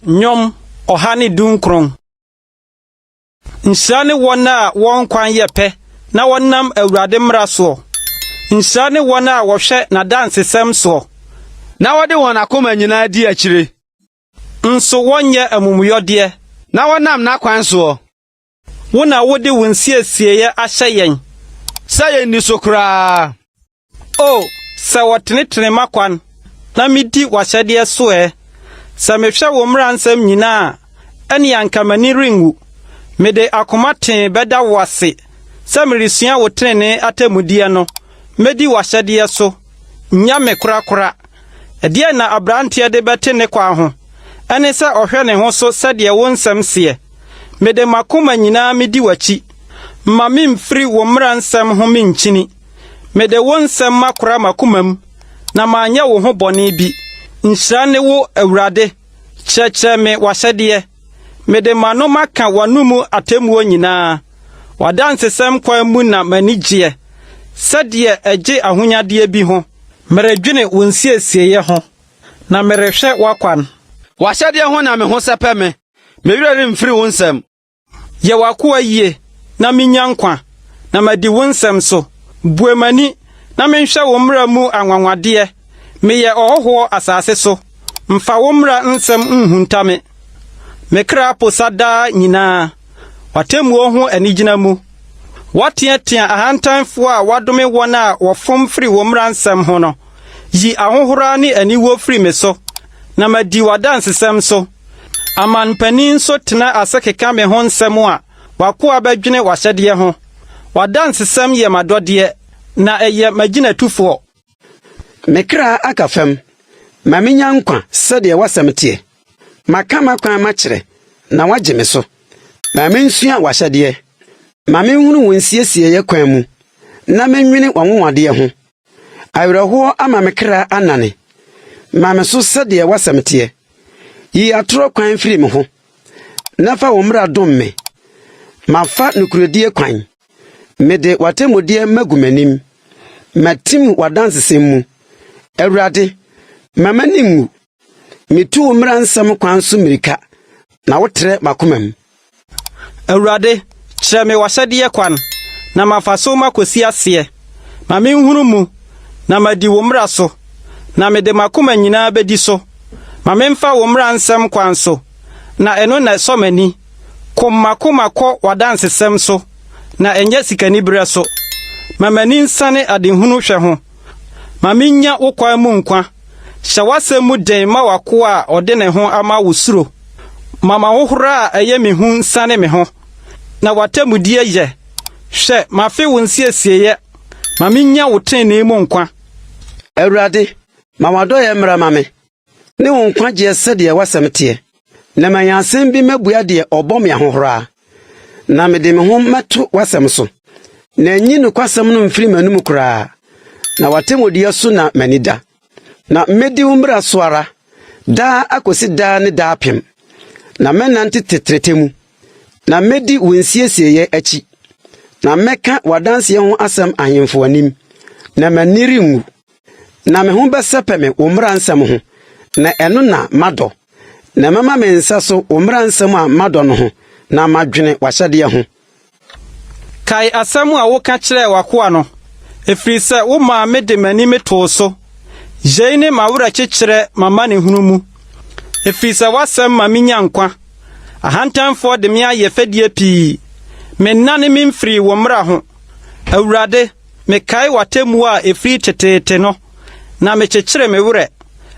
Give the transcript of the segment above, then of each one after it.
Nnwom ɔha ne dunkron. Nhyira ne wɔn a wɔn kwan yɛ pɛ na wɔnam Awurade mmara soɔ. Nhyira ne wɔn a wɔhwɛ n'adansesɛm soɔ. Na wɔde wɔn akoma nyinaa di akyire. Nso wɔnyɛ amumuyɔdeɛ. Na wɔnam n'akwan soɔ. Wo na wode wo nsiesieeɛ ahyɛ yɛn. Sɛ yɛnni so koraa. O sɛ wɔtenetene m'akwan. Na medi w'ahyɛdeɛ so ɛ! Sɛ mehwɛ wo mmaransɛm nyinaa a, ɛnneɛ anka m'ani renwu. Mede akoma tee bɛda wo ase sɛ meresua wo tenenee atemmudeɛ no. Mɛdi w'ahyɛdeɛ so, nnya me korakora. Ɛdeɛn na aberanteɛ de bɛte ne kwa ho? Ɛne sɛ ɔhwɛ ne ho so sɛdeɛ wo nsɛm seɛ. Mede m'akoma nyinaa medi w'akyi. Mma mimfiri wo mmara nsɛm ho minkyini. Mede wo nsɛm makora m'akomam, na manyɛ wo ho bɔne bi. Nhyira ne wo, Awurade, kyerɛkyerɛ me w'ahyɛdeɛ. Mede m'ano maka w'anomu atemmuo nyinaa, w'adansesɛm kwan mu na m'ani gyeɛ, sɛdeɛ ɛgye ahonyadeɛ bi ho. Meredwene wo nsiesieeɛ ho, na merehwɛ w'akwan. W'ahyɛdeɛ ho na me ho sɛpɛ me. Me werɛ remfiri wo nsɛm. Yɛ w'akoa yie na mennya nkwa, na madi wo nsɛm so. Bue m'ani na menhwɛ wo mmara mu anwanwadeɛ. Meyɛ ɔhɔhoɔ asase so, mfa wo mmara nsɛm nhunta me. Me kra posa daa nyinaa w'atemmuo ho anigyina mu. Woateatea ahantanfoɔ a woadome wɔn a wɔfom firi wo mmara nsɛm ho no. Yi ahohora ne aniwuo firi me so, na madi w'adansesɛm so. Amanpanin nso tena ase keka me ho nsɛm a, w'akoa bɛdwene w'ahyɛdeɛ ho. W'adansesɛm yɛ m'adɔdeɛ, na ɛyɛ m'agyinatufoɔ. Me kra aka fam, ma mennya nkwa sɛdeɛ w'asɛm teɛ. Maka m'akwan makyerɛ, na woagye me so. Ma mensua w'ahyɛdeɛ. Ma menhunu wo nsiesieeɛ kwan mu, na mennwene w'anwonwadeɛ ho. Awerɛhoɔ ama me kra anane. Ma me so sɛdeɛ w'asɛm teɛ. Yi atorɔ kwan firi me ho, na fa wo mmara dom me. Mafa nokorɛdie kwan. Mede w'atemmudeɛ magu m'anim. Matim w'adansesɛm mu. Awurade, mma m'ani nwu. Mitu wo mmara nsɛm kwan so mmirika, na wotrɛ m'akomam. Awurade, kyerɛ me w'ahyɛdeɛ kwan, na mafa so makɔsi aseɛ. Ma menhunu mu, na madi wo mmara so, na mede m'akoma nyinaa bɛdi so. Ma memfa wo mmara nsɛm kwan so, na ɛno na ɛsɔ m'ani. Kom m'akoma kɔ w'adansesɛm so, na ɛnyɛ sikaniberɛ so. Ma m'ani nsane adehunu hwɛ ho. Ma minnya wo kwan mu nkwa. Hyɛ w'asɛm mu den ma w'akoa a ɔde ne ho ama wo suro. Ma m'ahohora a ɛyɛ me hu nsiane me ho, na w'atemmudeɛ yɛ. Hwɛ, mafe wo nsiesieeɛ, ma minnya wo tenenee mu nkwa. Awurade, ma w'adɔeɛ mmra ma me. ne wo nkwagyeɛ sɛdeɛ w'asɛm teɛ, na manya asɛm bi mɛbua deɛ ɔbɔ me ahohora, na mede me ho mɛto w'asɛm so, na nyi nokwasɛm no mfiri m'anom koraa, na w'atemmudeɛ so na m'ani da. Na mɛdi wo mmara so ara, daa akɔsi daa ne daapem, na mɛnante tetrete mu, na mɛdi wo nsiesieeɛ akyi, na mɛka w'adanseɛ ho asɛm ahemfo anim, na m'ani renwu. Na me ho bɛsɛpɛ me wo mmara nsɛm ho, na ɛno na madɔ. Na mɛma me nsa so wo mmara nsɛm a madɔ no ho, na madwene w'ahyɛdeɛ ho. Kae asɛm a woka kyerɛɛ w'akoa no, ɛfiri sɛ womaa mede m'anim too so. Yei ne m'awerɛkyekyerɛ m'amanehunu mu, ɛfiri sɛ w'asɛm ma menya nkwa. Ahantanfoɔ de me ayɛ fɛdie pii, mennane memfirii wo mmara ho. Awurade. Mekae w'atemmuo a ɛfiri teteete no, na mekyekyere me werɛ.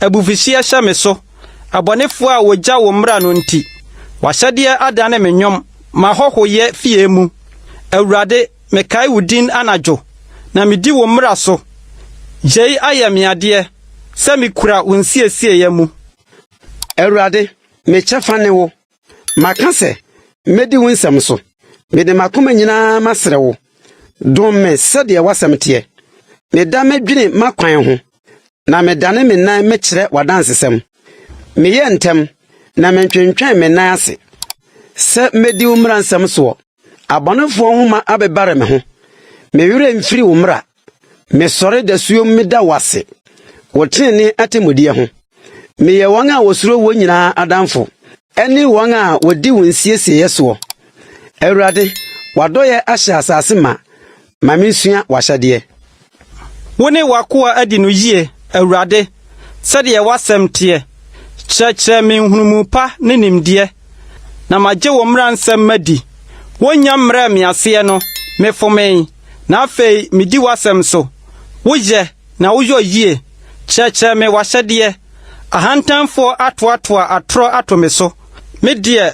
Abufuhyeɛ hyɛ me so, abɔnefoɔ a wɔgya wo mmara no nti. W'ahyɛdeɛ adane me nnwom m'ahɔhoyɛ fie mu. Awurade, mekae wo din anadwo, na medi wo mmara so. Yei ayɛ me adeɛ, sɛ mekura wo nsiesieeɛ mu. Awurade, me kyɛfa ne wo. Maka sɛ, Mɛdi wo nsɛm so. Mede m'akoma nyinaa masrɛ wo, dom me sɛdeɛ w'asɛm teɛ. Meda medwene m'akwan ho, na medane me nan mekyerɛ w'adansesɛm. Meyɛ ntɛm, na mentwentwɛn me nan ase, sɛ mɛdi wo mmaransɛm soɔ. Abɔnefoɔ nwoma abebare me ho. Me werɛ mfiri wo mmara. Mesɔre dasuom meda wo ase wo tenenee atemmudeɛ ho. Meyɛ wɔn a wɔsuro woɔ nyinaa adamfo ne wɔn a wɔdi wo nsiesieeɛ soɔ. Awurade, w'adɔeɛ ahyɛ asase ma, ma mensua w'ahyɛdeɛ. Wo ne w'akoa adi no yie, Awurade, sɛdeɛ w'asɛm teɛ. Kyerɛkyerɛ me nhunumu pa ne nimdeɛ, na magye wo mmaransɛm madi. Wonnya mmrɛɛ me aseɛ no, mefomee, na afei medi w'asɛm so. Woyɛ, na woyɔ yie. Kyerɛkyerɛ me w'ahyɛdeɛ. Ahantanfoɔ atoatoa atorɔ ato me so, me deɛ,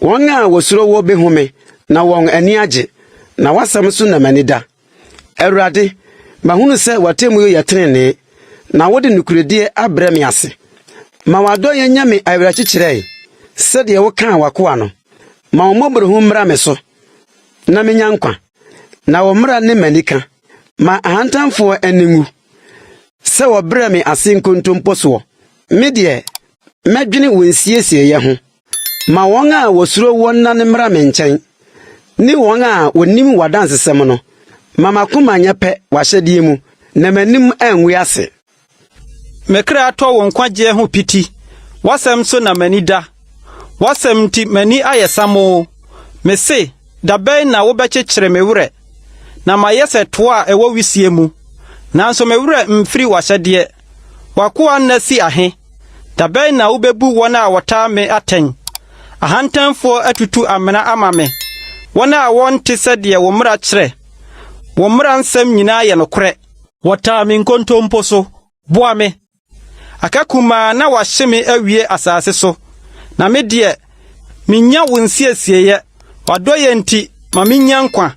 Wɔn a wɔsuro wo bɛhome na wɔn ani agye, na w'asɛm so na m'ani da. Awurade, mahunu sɛ w'atemmuo yɛ tenenee, na wode nokorɛdie abrɛ me ase. Ma w'adɔeɛ nyɛ me awerɛkyekyerɛ sɛdeɛ wokaa w'akoa no. Ma wo mmɔborɔhunu mmra me so na menya nkwa, na wo mmara ne m'anika. Ma ahantanfoɔ ani nwu sɛ wɔbrɛ me ase nkontompo soɔ. Me deɛ, Mɛdwene wo nsiesieeɛ ho. Ma wɔn a wɔsuro wo nna no mmra me nkyɛn, ne wɔn a wɔnim w'adansesɛm no. Ma m'akoma nyɛ pɛ w'ahyɛdeɛ mu, na m'anim angu ase. Me kra tɔ wo nkwagyeɛ ho piti, w'asɛm so na m'ani da. W'asɛm nti m'ani ayɛ samoo. Mese, Da bɛn na wobɛkyekyere me werɛ? Na mayɛ sɛ toa a ɛwɔ wisie mu, nanso me werɛ mfiri w'ahyɛdeɛ. W'akoa nna fi ahe? Da bɛn na wubebu wɔn a wɔtaa me atɛn? Ahantanfoɔ atutu amena ama me, wɔn a wɔnte sɛdeɛ wo mmara kyerɛ. Wo mmara nsɛm nyinaa yɛ nokorɛ. Wɔtaa me nkontompo so boa me. Aka kumaa na wɔahye me awie asase so, na me deɛ, mennya wo nsiesieeɛ. W'adɔeɛ nti, ma mennya nkwa,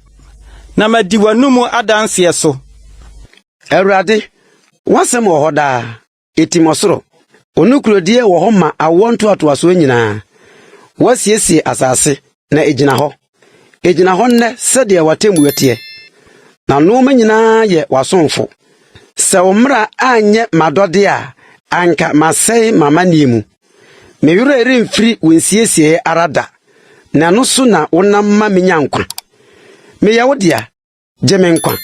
na madi w'anomu adanseɛ so. Awurade, w'asɛm wɔ hɔ daa, etim ɔsoro. Wo nokorɛdie wɔ hɔ ma awoɔ ntoatoasoɔ nyinaa. Woasiesie asase, na ɛgyina hɔ. Ɛgyina hɔ nnɛ sɛdeɛ w'atemmuo teɛ. Na nnoɔma nyinaa yɛ w'asomfo. Sɛ wo mmara anyɛ m'adɔdeɛ a, anka masɛe m'amanneɛ mu. Me werɛ remfiri wo nsiesieeɛ ara da, na ɛno so na wonam ma menya nkwa. Meyɛ wo dea, Gye me nkwa,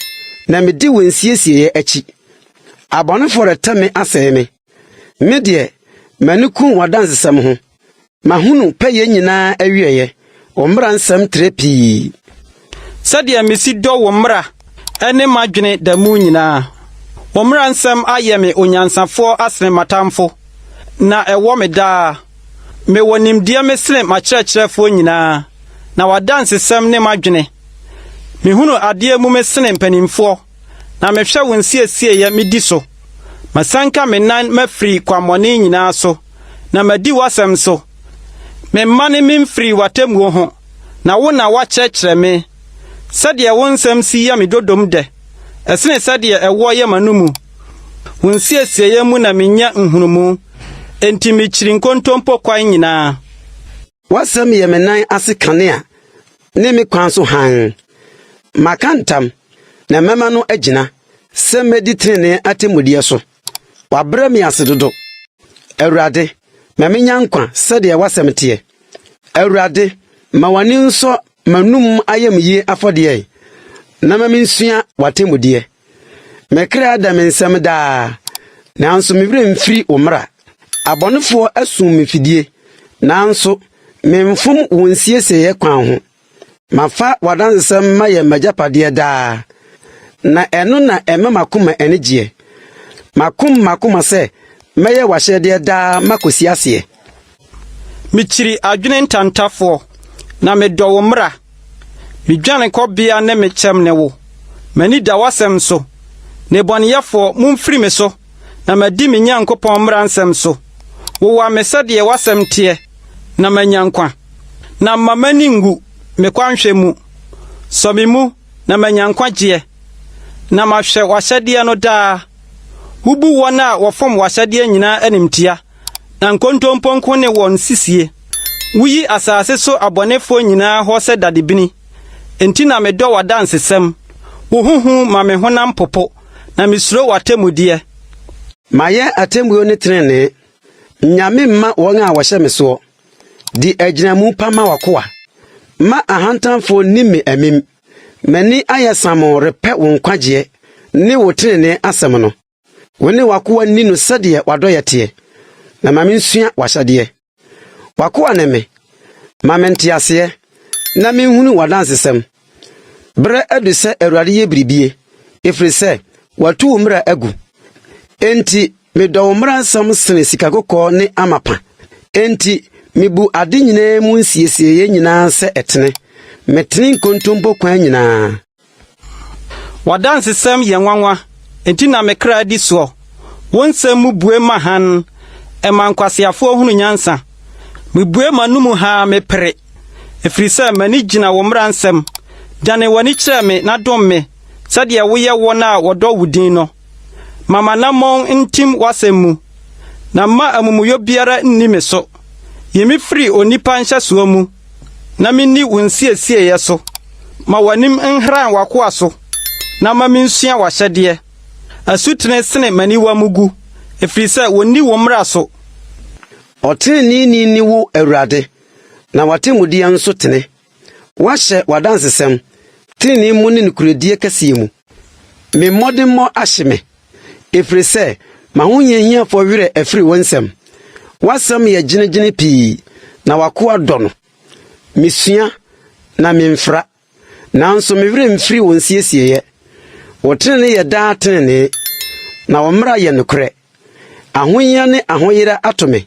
na medi wo nsiesieeɛ akyi. Abɔnefoɔ rete me asɛe me. Me deɛ, m'ani ku w'adansesɛm ho. Mahunu pɛyɛ nyinaa awieeɛ, wo mmara nsɛm trɛ pii. Sɛdeɛ mesi dɔ wo mmara ne m'adwene da mu nyinaa. Wo mmara nsɛm ayɛ me onyansafoɔ asene m'atamfo, na ɛwɔ me daa. Mewɔ nimdeɛ mesene m'akyerɛkyerɛfoɔ nyinaa, na w'adansesɛm ne m'adwene. Mehunu adeɛ mu me sene mpanimfoɔ, na mehwɛ wo nsiesieeɛ medi so. Masanka me nan mafiri kwammɔne nyinaa so, na madi w'asɛm so. Memmane memfirii w'atemmuo ho, na wo na woakyerɛkyerɛ me. Sɛdeɛ wo nsɛm si yɛ me dodom dɛ, ɛsene sɛdeɛ ɛwoɔ yɛ m'anomu. Wo nsiesieeɛ mu na menya nhunumu, enti mekyiri nkontompo kwan nyinaa. W'asɛm yɛ me nan ase kanea ne me kwan so hann. Maka ntam, na mɛma no agyina, sɛ mɛdi trenee atemmudeɛ so. Wabrɛ me ase dodo. Awurade, ma menya nkwa sɛdeɛ w'asɛm teɛ. Awurade, ma w'ani nsɔ m'anom ayamyie afɔdeɛ, na ma mensua w'atemmudeɛ. Me kra da me nsam daa, nanso me werɛ mfiri wo mmara. Abɔnefoɔ asum me fidie, nanso memfom wo nsiesieeɛ kwan ho. Mafa w'adansɛm mayɛ m'agyapadeɛ daa, na ɛno na ɛma m'akoma ani gyeɛ. Makom m'akoma sɛ mɛyɛ w'ahyɛdeɛ daa makɔsi aseɛ. Mikyiri adwene ntantafoɔ, na medɔ wo mmara. Me dwanekɔbea ne me kyɛm ne wo, m'ani da w'asɛm so. Nnebɔneyɛfoɔ, momfiri me so, na madi me Nyankopɔn mmaransɛm so. Wowa me sɛdeɛ w'asɛm teɛ, na manya nkwa. Na mma m'ani nnwu me kwanhwɛ mu. Sɔ me mu na manya nkwagyeɛ, na mahwɛ w'ahyɛdeɛ no daa. Wobu wɔn a wɔfom w'ahyɛdeɛ nyinaa animtia. Na nkontompo nko ne wɔn nsisie. Wuyi asase so abɔnefoɔ nyinaa hɔ sɛ dadebini. Enti na medɔ w'adansesɛm. Wo ho hu ma me honam popo, na mesuro w'atemmudeɛ. Mayɛ atemmuo ne tenenee. Nnya me mma wɔn a wɔhyɛ me soɔ. Di agyinamu pa ma w'akoa. Mma ahantanfoɔ nni me amim. M'ani ayɛ samoo repɛ wo nkwagyeɛ ne wo tenenee asɛm no. Wo ne w'akoa nni no sɛdeɛ w'adɔeɛ teɛ, na ma mensua w'ahyɛdeɛ. W'akoa ne me, ma me nteaseɛ, na menhunu w'adansesɛm. Berɛ adu sɛ Awurade yɛ biribie, ɛfiri sɛ watu wo mmara agu. Enti medɔ wo mmara nsɛm sene sika kɔkɔɔ ne amapa. Enti mebu ade nyinaa mu nsiesieeɛ nyinaa sɛ ɛtene, metene nkontompo kwan nyinaa. W'adansesɛm yɛ nwanwa, enti na me kra di soɔ. Wo nsɛm mu bue ma hann, ɛma nkwaseafoɔ hunu nyansa. Mebue m'anomu ha a mepere, ɛfiri sɛ m'ani gyina wo mmara nsɛm. Dane w'ani kyerɛ me na dom me sɛdeɛ woyɛ wɔn a wɔdɔ wo din no. Ma m'anammɔn ntim w'asɛm mu, na mma amumuyɔ biara nni me so. Yi me firi onipa nhyɛsoɔ mu. na menni wo nsiesieeɛ so. Ma w'anim nhran w'akoa so, na ma mensua w'ahyɛdeɛ. Asutene sene m'aniwa mu gu, ɛfiri sɛ wɔnni wo mmara so. Ɔteneneeni ne wo Awurade, na w'atemmudeɛ nso tene. Woahyɛ w'adansesɛm tenenee mu ne nokorɛdie kɛseɛ mu. Me mmɔdemmɔ ahye me. ɛfiri sɛ ma wo hiahiafoɔ werɛ afiri wo nsɛm. W'asɛm yɛ gyinagyina pii, na w'akoa dɔ no. Mesua, na memfra, nanso me werɛ mfiri wo nsiesieeɛ. Wo tenene yɛ daa tenenee, na wo mmara yɛ nokorɛ. Ahohia ne ahoyera ato me.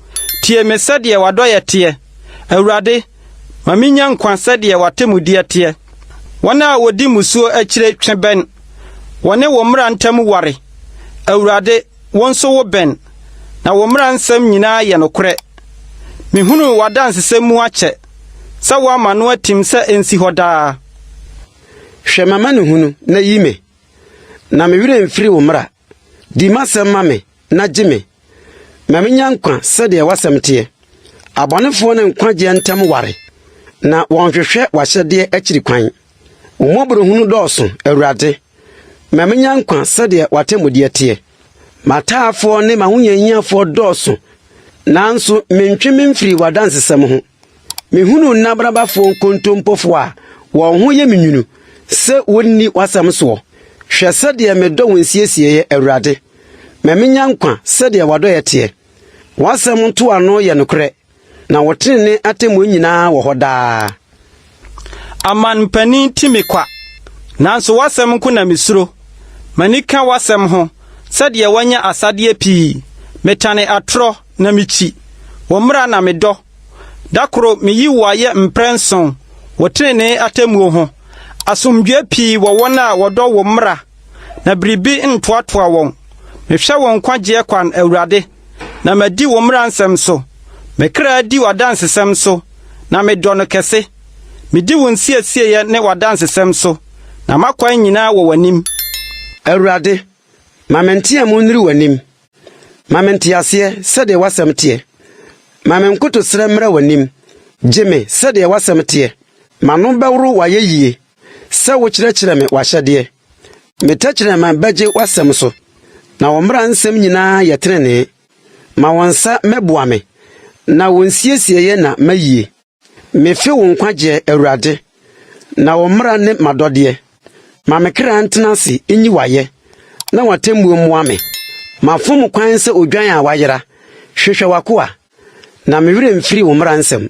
Tie me sɛdeɛ w'adɔeɛ teɛ, Awurade, ma mennya nkwa sɛdeɛ w'atemmudeɛ teɛ. Wɔn a wɔdi mmusuo akyire twe bɛn, wɔne wo mmara ntam ware. Awurade, wo nso wobɛn, na wo mmara nsɛm nyinaa yɛ nokorɛ. Mehunuu w'adansesɛm mu akyɛ sɛ woama no atim sɛ ɛnsi hɔ daa. Hwɛ m'amanehunu na yi me, na me werɛ mfiri wo mmara. Di m'asɛm ma me na gye me, ma menya nkwa sɛdeɛ w'asɛm teɛ. Abɔnefoɔ ne nkwagyeɛ ntam ware, na wɔnhwehwɛ w'ahyɛdeɛ akyiri kwan. Wo mmɔborɔhunu dɔɔso, Awurade, ma menya nkwa sɛdeɛ w'atemmudeɛ teɛ. M'ataafoɔ ne m'ahohiahiafoɔ dɔɔso, nanso mentwe me mfiri w'adansesɛm ho. Mehunu nna barabafoɔ nkontompofoɔ a wɔn ho yɛ me nwunu sɛ wɔnni w'asɛm soɔ. Hwɛ sɛdeɛ medɔ wo nsiesieeɛ, Awurade. Ma minnya nkwa sɛdeɛ w'adɔeɛ teɛ. W'asɛm ntoano yɛ nokorɛ, na wo tenenee atemmuo nyinaa wɔ hɔ daa. Aman mpanin ti me kwa, nanso w'asɛm nko na misuro. M'ani ka w'asɛm ho sɛdeɛ wanya asadeɛ pii. Metane atorɔ na mikyi, wo mmara na medɔ. Da koro meyi wo ayɛ mprɛnson wɔ tenenee atemmuo ho. Asomdwoeɛ pii wɔ wɔn a wɔdɔ wo mmara. na biribi ntoatoa wɔn. Mehwɛ wɔn nkwagyeɛ kwan, Awurade, na madi wo mmara nsɛm so. Me kra di w'adansesɛm so, na medɔ no kɛse. Medi wo nsiesieeɛ ne w'adansesɛm so, na m'akwan nyinaa wɔ w'anim. Awurade, ma me nteamu nnuru w'anim. Ma me nteaseɛ sɛdeɛ w'asɛm teɛ. Ma me nkotosrɛ mmra w'anim. Gye me sɛdeɛ w'asɛm teɛ. M'ano bɛworo w'ayɛyie. Sɛ wokyerɛkyerɛ me w'ahyɛdeɛ. Me tɛkyerɛma bɛgye w'asɛm so. Na wo mmara nsɛm nyinaa yɛ tenenee. Ma wo nsa mmɛboa me. Na wo nsiesieeɛ na m'ayie. Mefe wo nkwagyeɛ, Awurade. Na wo mmara ne m'adɔdeɛ. Ma me kra ntena ase nyi w'ayɛ. Na w'atemmuo mmoa me. Mafom kwan sɛ odwan a wayera. Hwehwɛ w'akoa. Na me werɛ mfiri wo mmara nsɛm.